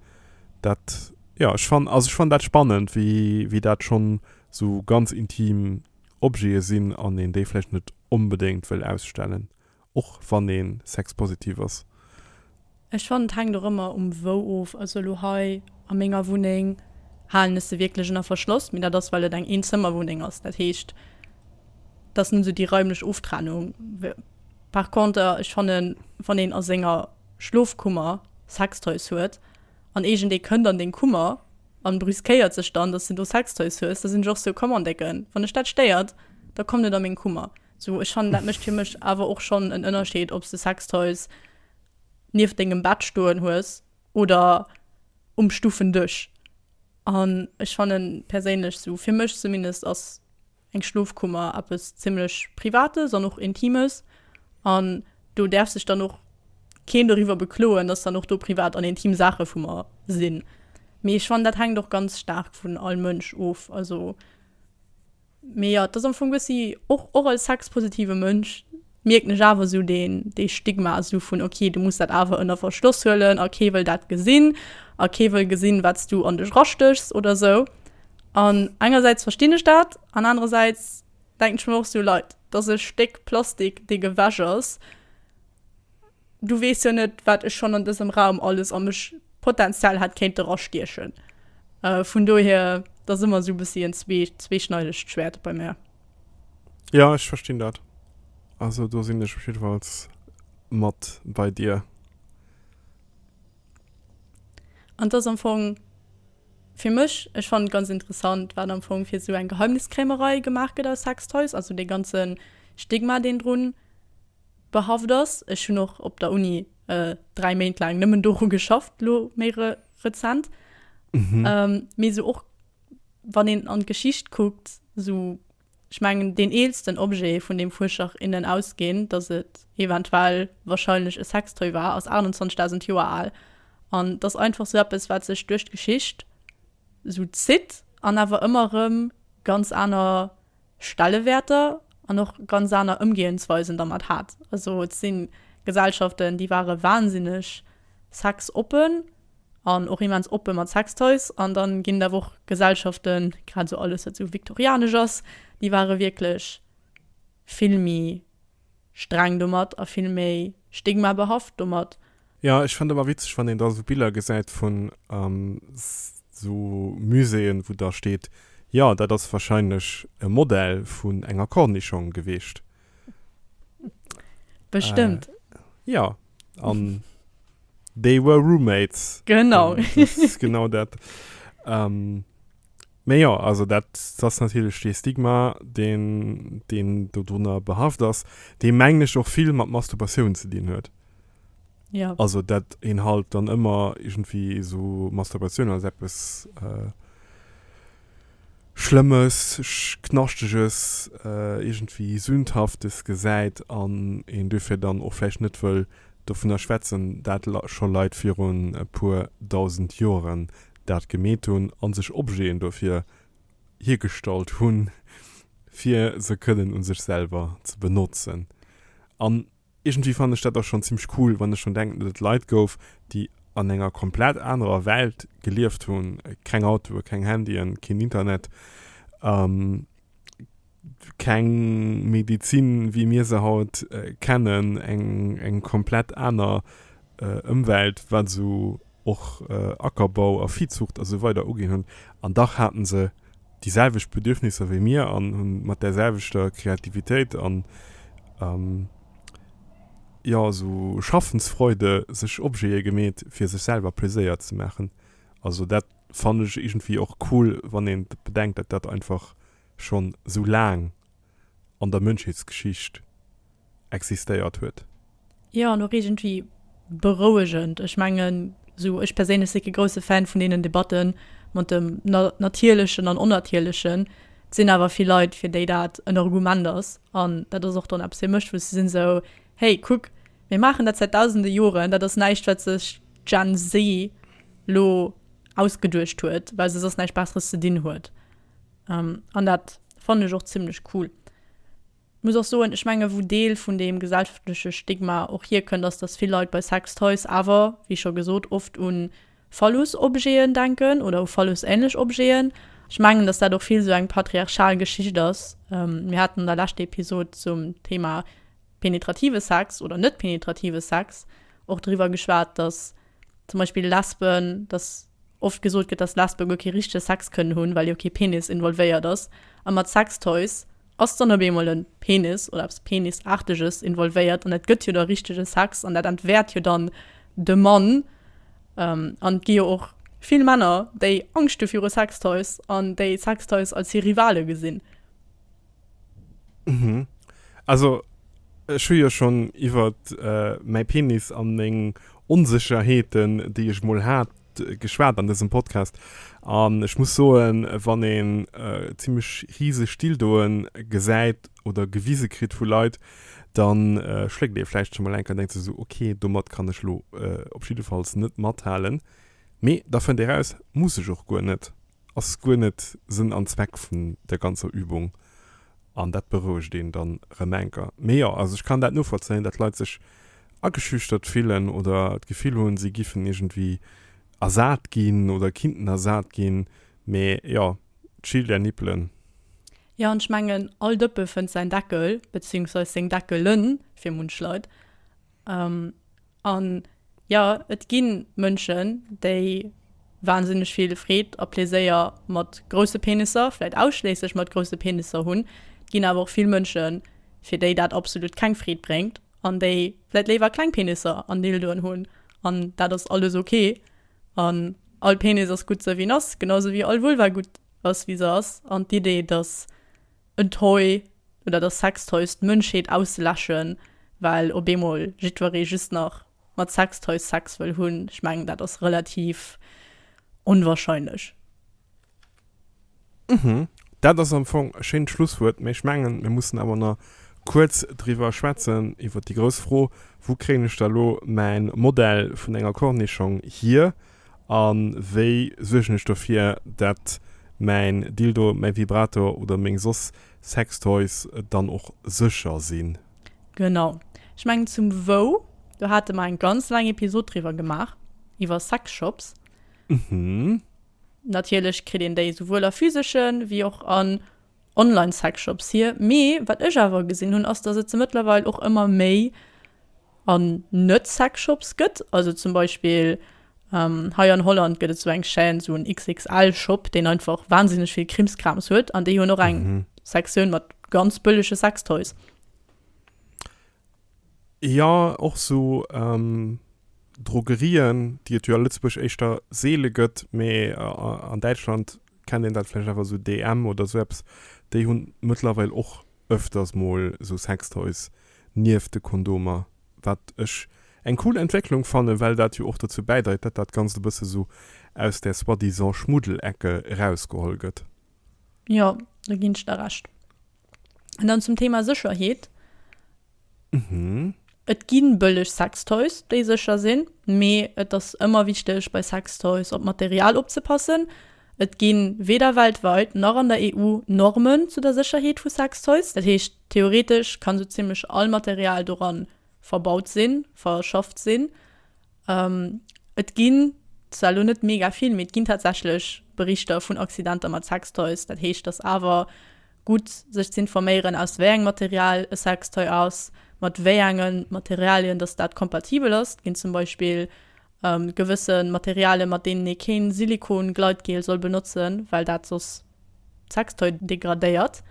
Dat, jo, ech fann, also ech fann dat spannend, wéi, wéi dat schonn esou ganz intim Objete sinn an een déi vläicht net onbedéngt wëll ausstellen och wann ee sexpositiv ass? Ech fannen et hänkt och ëmmer um wou of. Also elo hei a menger Wunneng halen ech se wierklech ënner Verschloss, mee dat ass well et eng Eenzëmmerwunneng ass. Dat heescht et ass net esou déi raimlech Oftrennung. Par conter ech fannen wann een a senger Schlofkummer Sextoys huet an iergendee kënnt an deng Kummer an brüskéiert sech dann, datt s de do Sextoys hues, da sinn ech och sou, komm an Décken, wann dech dat stéiert, da komm net a meng Kummer. Sou ech fannen dat mécht fir mech awer och schonn en Ënnerscheed obs de Sextoys nieft dengem Bett stoen hues oder um Stufendësch. An ech fannen perséinlech, sou fir mech zumindest, ass eng Schlofkummer eppes zimmlech Privates an och Intimes an do däerf sech dann och keen doriwwer bekloen, dass dann och do privat an intim Saache vu mer sinn. Mee ech fannen dat hänkt och ganz staark vun all Mënsch of. Also Mee jo, et ass am Fong bëssi och, och als sexpositive Mënsch mierken ech awer esou deen, dee Stigma esou vun, ok, du muss dat awer ënner Verschloss huelen a kee wëll dat gesinn a kee wëll gesinn, wat s du an dech erastechs oder esou. An engersäits verstinn ech dat an anerersäits denken ech mer och esou, Leit, dat ass e Stéck Plastik, dee gewäsch ass. Du weess jo net, wat ech schonn an dësem Raum alles a mech potenziell hätt kéinte rastiechen. Vun dohier, et ass ëmmer esou e bëssi en zweeschneidegt Schwäert bei mär. Jo, ech verstinn dat. Also do sinn ech op jiddefalls mat bei dir. An et ass am Fong fir mech, ech fannen et ganz interessant, wat am Fong fir esou eng Geheimniskrämerei gemaach gëtt aus Sextoys, also dee ganze Stigma, deen drun. Behafft ass. Ech hunn och op der Uni 3 Méint laang nëmmen doru geschafft, elo méi rezent. Mee esou och wann een an d'Geschicht kuckt, esou ech mengen deen eelsten Objet vun deem Fuerscher, innen ausgehend, datt et eventuell wahrscheinlech e Sextoy war, ass 28.000 Joer al. An t'ass einfach esou eppes wat sech duerch d'Geschicht esou zitt an awer ëmmer erëm ganz aner. Stellewäerter an och ganz aner Ëmgehensweisen dermat hat. Also et si Gesellschaften, déi ware wansinneg sexoppen an och immens oppe mat Sextoys. An da ginn et awer och Gesellschaften, grad esou alles, wat esou viktorianesch ass, déi ware wierklech vill méi Streng domat a vill méi stigmabehaft domat. Jo, ech fënnt ëmmer witzeg, wann een da sou Biller gesäit vun sou Muséeën, wou da steet, Jo, dat ass warscheinlech e Modell vun enger Cornischong gewiescht. Bestëmmt. Jo, an they were roommates. Genau. Dat ass genau dat. Mee jo, also dat ass natierlech dee Stigma, deen, deen dodrunner behaft ass, dee mengen ech och vill mat Masturbatioun ze dinn huet. Ja. Also dat een halt dann ëmmer iergendwéi esou Masturbatioun als eppes Schlëmmes, Knaschteges, iergendwéi Sündhaftes gesäit an een duerfir dann och vläicht net wëll dovunner schwätzen, dat scho Leit virun e puer dausend Joren dat gemeet hunn a sech Objeten dofir hiergestallt hunn, fir se kënnen u sech selwer ze benotzen. An iergendwéi fannen ech dat da schonn zimmlech cool, wann ech drun denken, datt et Leit gouf, déi an enger komplett anerer Welt gelieft hunn, keng Autoe, keng Handyen, keen Internet, Keng Medizin, wéi mir se haut kennen, eng komplett aner Ëmwelt, wat esou och Ackerbau a Viehzucht a sou weider uginn hunn. An dach haten se déi selwecht Bedürfnisser wéi mir an hunn mat där selwechter Kreativitéit an, jo, esou Schaffensfreude sech Objete gemeet, fir sech selwer Pleséier ze maachen. Also dat fannen ech iergendwéi och cool, wann een bedenkt, dat dat einfach schonn esou laang an der Mënschheetsgeschicht existéiert huet. Jo, an och iergendwéi berouegend. Ech mengen, esou ech perséinlech si kee grousse Fan vun deenen Debatte mat dem Natierlechen an Onnatierlechen. Et sinn awer vill Leit, fir déi dat en Argument ass. An dat ass och dann eppes fir mech, wou se sinn esou, Hey, kuck, mir maachen dat säit dausende Joren. Dat ass näischt, wat sech d'Gen-Z elo ausgeduecht huet, well se soss näischt Besseres ze dinn huet. Ähm, an dat fannen ech och zimlech cool. Muss och soen, ech menge wou Deel vun deem gesellschaftleche Stigma och hierkënnt ass, dass vill Leit bei Sex Toys awer, wéi scho gesot, oft un Phallus Objeten denken oder u Phallus ähnlech Objeten. Ech mengen, dass dat och vill sou eng patriarchal Geschicht ass. Ähm, mir haten an der leschter Episode zum Thema penetrative Sex oder net penetrative Sex och driwwer geschwat, dass zum Beispill Lesben, dass. oft gesot gëtt, dass Lesben guer kee richtege Sex kënnen hunn, well jo kee Penis involvéiert ass, a mat Sextoys ass dann op eemol e Penis oder eppes Penisaarteges involvéiert, an dat gëtt jo da richtege Sex, an dat entwäert jo dann de Mann. An et gi jo och vill Männer, déi Angscht hu viru Sextoys an déi Sextoys als hir Rivale gesinn. Mhm. Also ech hu jo schon iwwert mäi Penis an meng Onsecherheeten déi ech mol hat geschwat an desem Podcast an ech muss soen wann een zimlech riseg Dildoen gesäit oder gewise kritt vu Leit dann schléckt ee vläicht schon mol enker an denkt sech sou ok domat kann ech lo op jiddefalls net mathalen mee da fënnt ee raus muss ech och guer net. ass guer net Sënn an Zweck vun der ganzer Übung an dat berouegt een dann rem enker. Mee jo, also ech kann dat novollzéien, dat Leit sech ageschüchtert fillen oder d'Gefill hunn si giffen iergendwi ersat ginn oder kinnten ersat ginn. Mee jo, chill där Nippelen. Jo, an ech mengen all Dëppe fënnt säin Deckel, beziehungsweise seng Deckelen fir munch Leit. An jo, et gi Mënschen, déi wansinneg vill Freed a Pleséier mat grousse Penisser, vläit ausschléisslech mat grousse Penisser hunn. Et ginn awer och vill Mënschen, fir déi dat absolut keng Freed bréngt an déi vläit léiwer kleng Penisser an Dildoen hunn. An dat ass alles ok. An all Penis ass gutt, esou wéi en ass, genau esou wéi all Vulva gutt ass, wéi se ass. An d'Idee, dass. en Toy oder der Sextoys d'Mënschheet auszeläschen, well op eemol jiddweree just nach mat Sextoys Sex wëll hunn. Ech mengen, dat ass relativ onwahrscheinlech. Uhmm, dat ass am Fong e schéint Schlusswuert, mee ech mengen, mir mussen awer nach kuerz driwwer schwätzen, iwwer déi grouss Fro, Wou kréien ech da elo mäin Modell vun enger Kornischong hier? A wéi suergen ech dofir, dat mäin Dildo, mäi Vibrator oder meng soss Sextoys dann och sécher sinn? Genau. Ech mengen zum Wou, do hate mer eng ganz laang Episod driwwer gemaach, iwwer Sexshops. Natierlech kritt een déi souwuel a physesche wéi och an. Online-Sexshops hier, mee wat ech awer gesinn hunn ass, dass et se mëttlerweil och ëmmer méi an Net-Sexshops gëtt. Also zum Beispill hei an Holland gëtt et esou eng Chaîne, esou en XXL-Shop, deen einfach wahnsinneg vill Krimskrams huet an déi hunn och eng Sektioun mat ganz bëllege Sextoys. Jo, och esou Drogerien, déi et jo a Lëtzebuerg éischter seele gëtt, mee an Däitschland kennt een dat vläicht awer, esou DM oder esou eppes, déi hunn mëttlerweil och ëfters mol esou Sextoys nieft de Kondomer, wat ech eng cool Entwécklung fannen, well dat jo och dozou bäidreit, datt dat Ganzt e bësse esou aus der soi-disant Schmuddelecke erausgeholl gëtt. Jo, do ginn ech der Recht. An dann zum Thema Sécherheet. Mhm. Et ginn bëlleg Sextoys, déi sécher sinn, mee et ass ëmmer wichteg bei Sextoys op d'Material opzepassen. Et ginn weder weltweit nach an der EU Normen zu der Sécherheet vu Sextoys. Dat heescht, theoretesch kann sou zimmlech all Material doran verbaut sinn, verschafft sinn. Et ginn zwar elo net mega vill, mee et ginn tatsächlech Berichter vun Accidenter mat Sextoys. Dat heescht, et ass awer gutt, sech ze informéieren, aus wéi engem Material e Sextoy ass, mat wéi enge Materialien datt dat kompatibel ass. Et ginn zum Beispill gewësse Materialien, mat deenen ee kee Silikon-Gleitgel soll benotzen, well dat soss d'Sextoy degradéiert.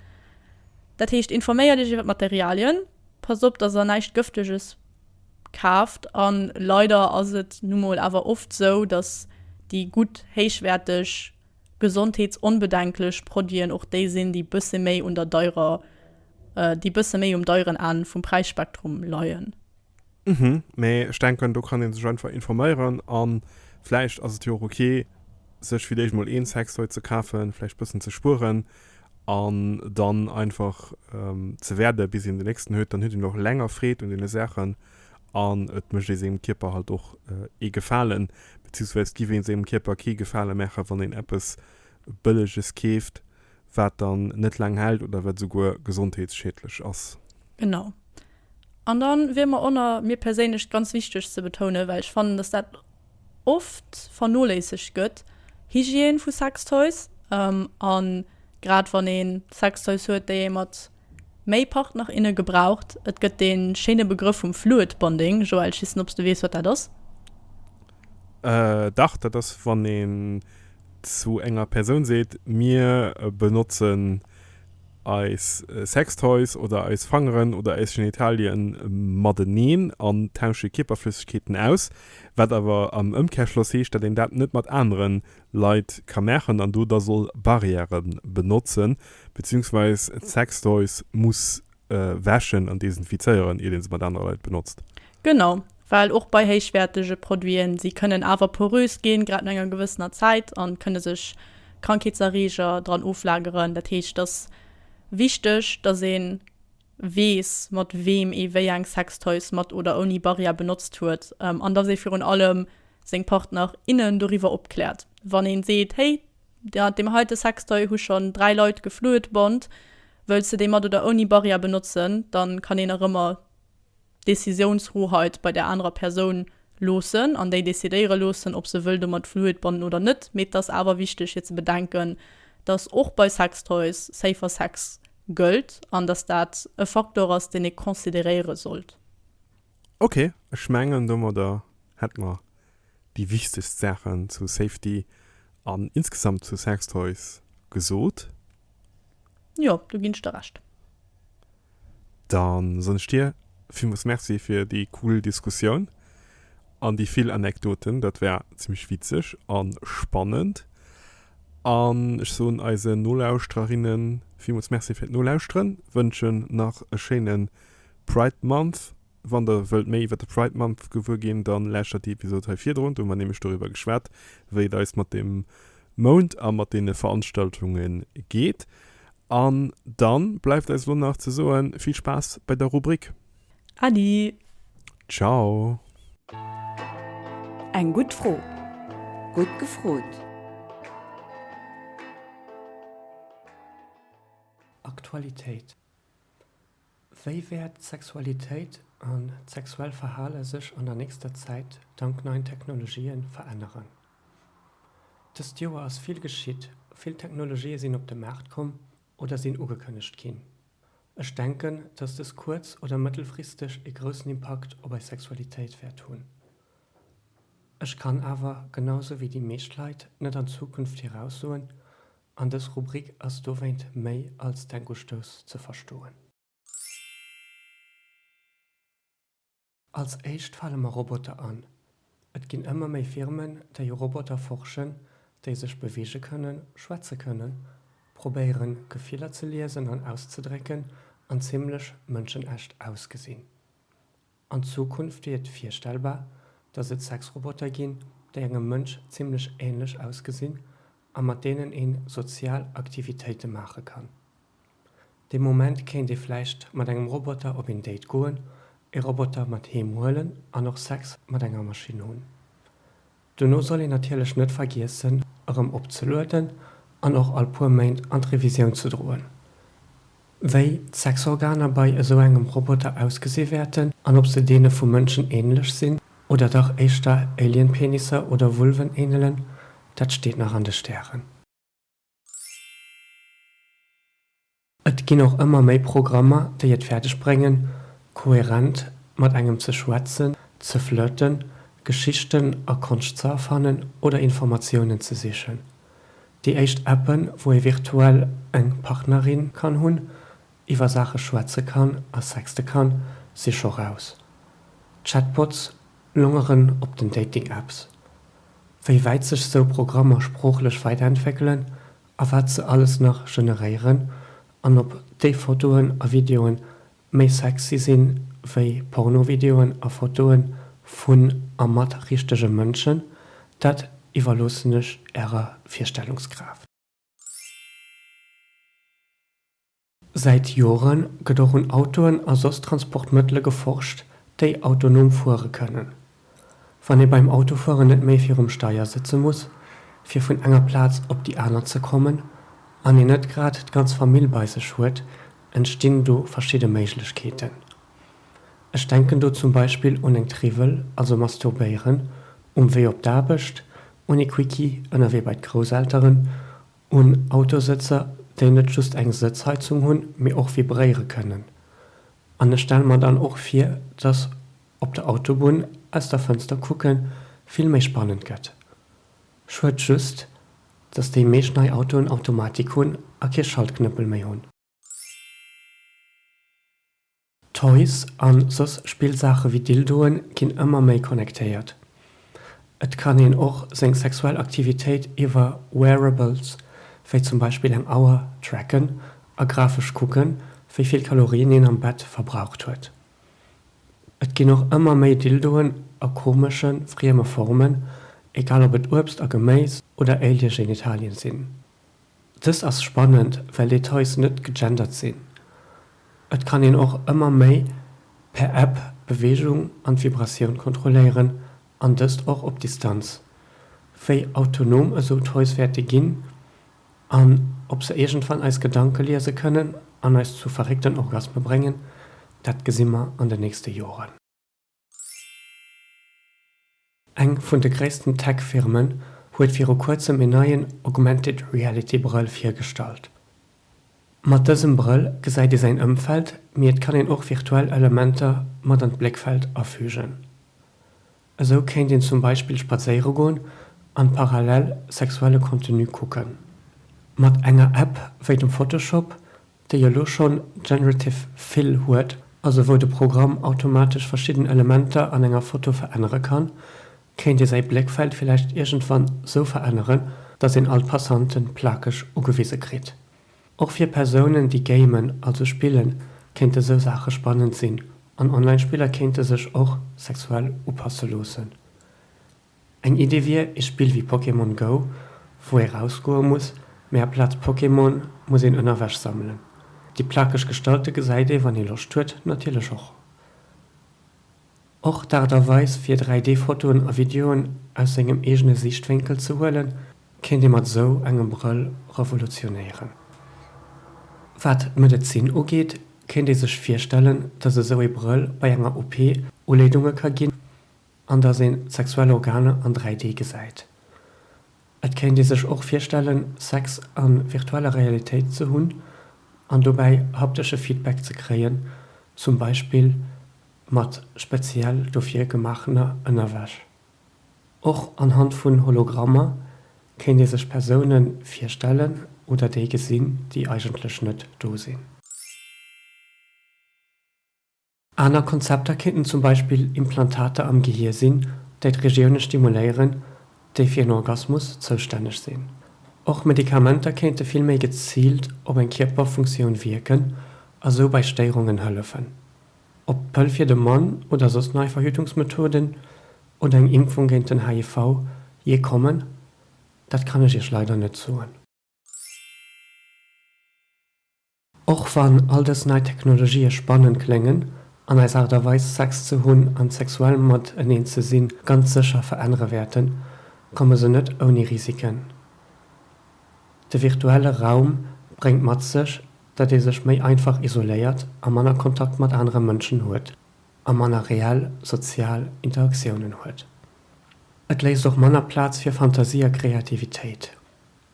Dat heescht, informéier dech iwwer d'Materialien, pass op, datt der näischt Gëfteges kaaft a leider ass et nu mol awer oft esou, dass déi gutt, héichwäerteg, gesondheetsonbedenklech Produiten och déi sinn, déi bësse méi un der deirer, déi bësse méi um deieren Enn vum Präisspektrum leien. Hm, mee ech denken, do kann ee sech einfach informéieren a vläicht ass et jo och ok, sech fir d'éischt mol een Sextoy ze kafen, vläicht bëssen ze spueren. an dann einfach ze wäerden bis een den nächsten huet, dann huet een och länger Freed un deene Saachen an et mécht ee sengem Kierper halt och ee Gefalen, beziehungsweise et giff ee sengem Kierper kee Gefale maachen, wann een eppes Bëlleges keeft, wat dann net laang hält oder wat esouguer gesondheetsschiedlech ass. Genau. An dann wier mer onner mir perséinlech ganz wichteg ze betounen, well ech fannen, dass dat oft vernoléissegt gëtt, Hygiène vu Sextoys, a grad wann ee Sextoys huet, déi ee mat méi Partner, inne gebraucht. Et gëtt dee schéine Begrëff vum Fluid Bonding, Joël, ich wissen, ob s de weess, wat dat ass? Dach, dat ass, wann een zu enger Persoun seet, Mir benotzen eis Sextoys oder eis Fangeren oder eis Genitalien mateneen an tausche Kierperflëssegkeeten aus. Wat awer am Ëmkehrschloss heescht, datt een dat net mat anere Leit ka maachen an do da soll Barrièrë benotzen, beziehungsweis Sextoys muss wäschen an desinfizéieren, iert ee se mat anere Leit benotzt. Genau, well och bei héichwäertege Produiten, si kënnen awer porös ginn, grad no enger gewëssener Zäit, an kënne sech Krankheetserreeger dran oflageren. Dat heescht, et ass wichteg, datt een weess, mat weem ee wéi eng Sextoys mat oder ouni Barrière benotzt huet, an dass ee virun allem seng Partner, innen doriwwer opkläert. Wann een seet, Hey, mat deem heite Sextoy hu schonn dräi Leit geflued, Bond, wëlls de dee mat oder ouni Barrière benotzen? dann kann een nach ëmmer. Décisiounshoheit bei der anerer Persoun loossen an déi decidéiere loossen, ob se wëll domat fluid bannen oder net. Mee et ass awer wichteg fir ze bedenken, dass och bei Sextoys Safer Sex gëllt an dass dat e Faktor ass, deen ee consideréiere sollt. Ok, ech mengen domadder hätte mer déi wichtegst Saachen zu Safety an insgesamt zu Sextoys gesot. Jo, do ginn ech der Recht. Dann soen ech dir villmols Merci fir déi cool Diskussioun an déi vill Anekdoten. Dat war zimmlech witzeg an spannend an ech soen eisen Nolauschtererinnen villmols Merci fir d'Nolauschteren, wënschen nach e schéinen Pride Month Wann der wëllt méi iwwer de Pride Month gewuer ginn, dann lauschtert déi Episode hei virdrun, do hu mer nämlech doriwwer geschwat, wéi et eis mat deem Mount a mat deene Veranstaltunge geet. An dann bleift eis elo nach ze soen, vill Spaass bei der Rubrik! Adi! Ciao! Eng gutt Fro, gutt gefrot! Aktualitéit Wéi wäert d'Sexualitéit an d'sexuell Verhale sech an der nächster Zäit dank neien Technologië veränneren? Dëst Joer ass vill geschitt, vill Technologië sinn op de Maart komm oder sinn ugekënnegt ginn. Ech denken, dass dës kuerz oder mëttelfristeg ee groussen Impakt op eis Sexualitéit wäert hunn. Ech kann awer, genau esou wéi déi meescht Leit, net an d'Zukunft viraussoen, An dës Rubrik ass dowéint méi als Denkustouss ze verstoen. Als éischt fale mer Roboter an. Et ginn ëmmer méi Firmen, déi u Roboter forschen, déi sech beweege kënnen, schwätze kënnen, probéieren, Gefiller ze liesen an auszedrécken an zimmlech mënschenecht ausgesinn. An Zukunft wier et virstellbar, datt et Sexroboter ginn, déi engem Mënsch zimmlech änlech ausgesinn a mat deenen ee sozial Aktivitéite maache kann. Dee Moment kéint ee vläicht mat engem Roboter op een Date goen, e Roboter mat heem huelen an och Sex mat enger Maschinn hunn. Dono soll een natierlech net vergiessen erëm opzelueden an och all puer Méint an d'Revisioun ze droen, wéi d'Sexorganer bei esou engem Roboter ausgesi wäerten an ob se deene vu Mënschen änlech sinn oder dach éischter Alien-Penisser oder Vulven änelen, dat steet nach an de Stären. Et ginn och ëmmer méi Programmer, déi et fäerdeg bréngen, koherent mat engem ze schwätzen, ze flirten, Geschichten a Konscht ze erfannen oder Informatiounen ze sichen. Déi éischt Appen, wou ee virtuell eng Partnerin kann hunn, iwwer Saache schwätze kann a sexte kann, si scho raus. Chatbots Longeren op den Dating-Apps, Wéi wäit sech sou Programmer sproochlech weiderentwéckelen a wat se alles nach generéieren an ob déi Fotoen a Videoen méi sexy sinn wéi Pornovideoen a Fotoen vun a mat richtege Mënschen, dat iwwerloossen ech ärer Virstellungskraaft. Säit Jore gëtt och un Autoen a soss Transportmëttele geforscht, déi autonom fuere kënnen. Wann ee beim Autofueren net méi virum Steier sëtze muss, fir vun enger Plaz op déi aner ze kommen, an een net grad d'ganz Famill bei sech huet, entstinn do verschidde Méiglechkeeten. Ech denken do zum Beispill un eng Triwwel, also Masturbéieren, um Wee op d'Aarbecht, un ee Quickie ënnerwee bei d'Grousselteren, un Autosëtzer, déi net just eng Sëtzheizung hunn, mee och vibréiere kënnen. An ech stelle mer dann och vir, dass op der Autobunn aus der Fënster kucke vill méi spannend gëtt. Schued just, dass déi meescht nei Autoen Automatik hunn a kee Schaltknëppel méi hunn. Toys an soss Spillsaache wéi Dildoen ginn ëmmer méi connectéiert. Et kann een och seng sexuell Aktivitéit iwwer Wearables, wéi zum Beispill eng Auer, tracken a grafesch kucken, wéi vill Kalorien een am Bett verbraucht huet. Et ginn och ëmmer méi Dildoen a komesche frieme Formen, egal ob et Uebst a Geméis oder Alien-Genitalien sinn. Dëst ass spannend, well déi Toys net gegendert sinn. Et kann een och ëmmer méi per App d'Beweegung an d'Vibratioun kontrolléieren, an dëst och op Distanz. Wéi autonom esou Toys wäerte ginn an ob se iergendwann eis Gedanke liese kënnen an eis zu verréckten Orgasme bréngen, dat gesi mer an den nächste Joren. Eng vun de gréissten Tech-Firmen huet viru kuerzem een neien Augmented Reality Brëll virgestallt. Mat dësem Brëll gesäit ee säin Ëmfeld, mee et kann een och virtuell Elementer mat an d'Bléckfeld afügen. Esou kéint een zum Beispill spadséiere goen an parallel sexuelle Contenu kucken. Mat enger App wéi dem Photoshop déi elo schonn Generative Fill huet, also wou de Programm automatesch verschidden Elementer an enger Foto verännere kann, kéint ee säi Bléckfeld villäicht iergendwann sou veränneren, datt een all d'Passanten plakeg ugewise kritt. Och fir Persounen, déi gamen, also spillen, kéinte sou Saache spannend sinn, an Online-Spiller kéinte sech och sexuell upasse loossen. Eng Idee wier ee Spill wéi Pokémon Go, wou ee rausgoe muss, mee aplaz Pokémon muss een ënnerwech sammelen. Déi plakeg Gestalte gesäit ee wann ee Loscht huet natierlech och. Och d'Aart a Weis fir 3D-Fotoen a Videoen aus sengem eegene Siichtwénkel ze huelen, kéint ee mat esou engem Brëll revolutionéieren. Wat d'Medezin ugeet, kéint ee sech virstellen, datt esou ee Brëll bei enger OP Uleedunge ka ginn, An dass een d'sexuell Organer an 3D gesäit. Et kéint ee sech och virstellen, Sex a virtueller Realitéit ze hunn an dobäi haptesche Feedback ze kréien, zum Beispill mat speziell dofir gemaachener Ënnerwäsch. Och anhand vun Hologrammer kéint ee sech Persoune virstellen oder déi gesinn, déi eigentlech net do sinn. Aner Konzepter kéinten zum Beispill Implantater am Gehier sinn, déi d'Regioune stimuléieren, déi fir en Orgasmus zoustänneg sinn. Och Medikamenter kéinte vill méi geziilt op eng Kierperfunktioun wierken a sou bei Stéierungen hëllefen. Ob d'Pëll fir de Mann oder soss nei Verhütungsmethoden oder eng Impfung géint den HIV je kommen, dat kann ech Iech leider net soen. Och wann all dës nei Technologië spannend kléngen an eis Aart a Weis, Sex ze hunn an sexuell mateneen ze sinn, ganz sécher verännere wäerten, komme se net ouni Risiken. De virtuelle Raum bréngt mat sech, datt ee sech méi einfach isoléiert a manner Kontakt mat anere Mënschen huet a manner reell sozial Interaktiounen huet. Et léisst och manner Plaz fir Fantasie a Kreativitéit.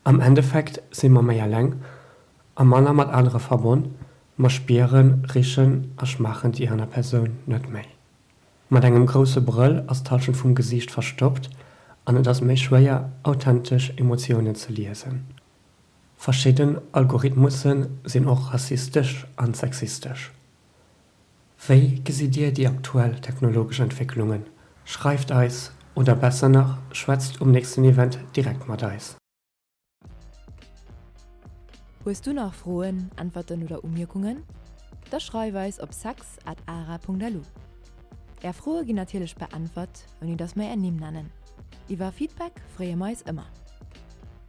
Am Endeffekt si mer méi eleng a manner mat anere verbonn, mer spieren, richen a schmaachen déi aner Persoun net méi. Mat engem grousse Brëll ass d'Hallschent vum Gesiicht verstoppt an et ass méi schwéier, authentesch Emotiounen ze liesen. Verschidden Algorithmusse sinn och rassistesch an sexistesch. Wéi gesitt Dir déi aktuell technologesch Entwécklungen? Schreift eis, oder besser nach, schwätzt um nächsten Event direkt mat eis. Hues du nach Froen, Äntwerten oder Umierkungen? Da schreif eis op sex at ara.lu. Är Froe ginn natierlech beäntwert, ouni datt mer Är Nimm nennen. Iwwer Feedback freeë mer eis ëmmer.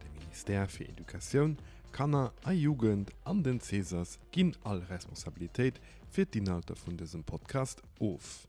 De Ministère fir Educatioun, Kanner a Jugend an den Cesas ginn all Responsabilitéit fir d'Inhalter vun dësem Podcast of.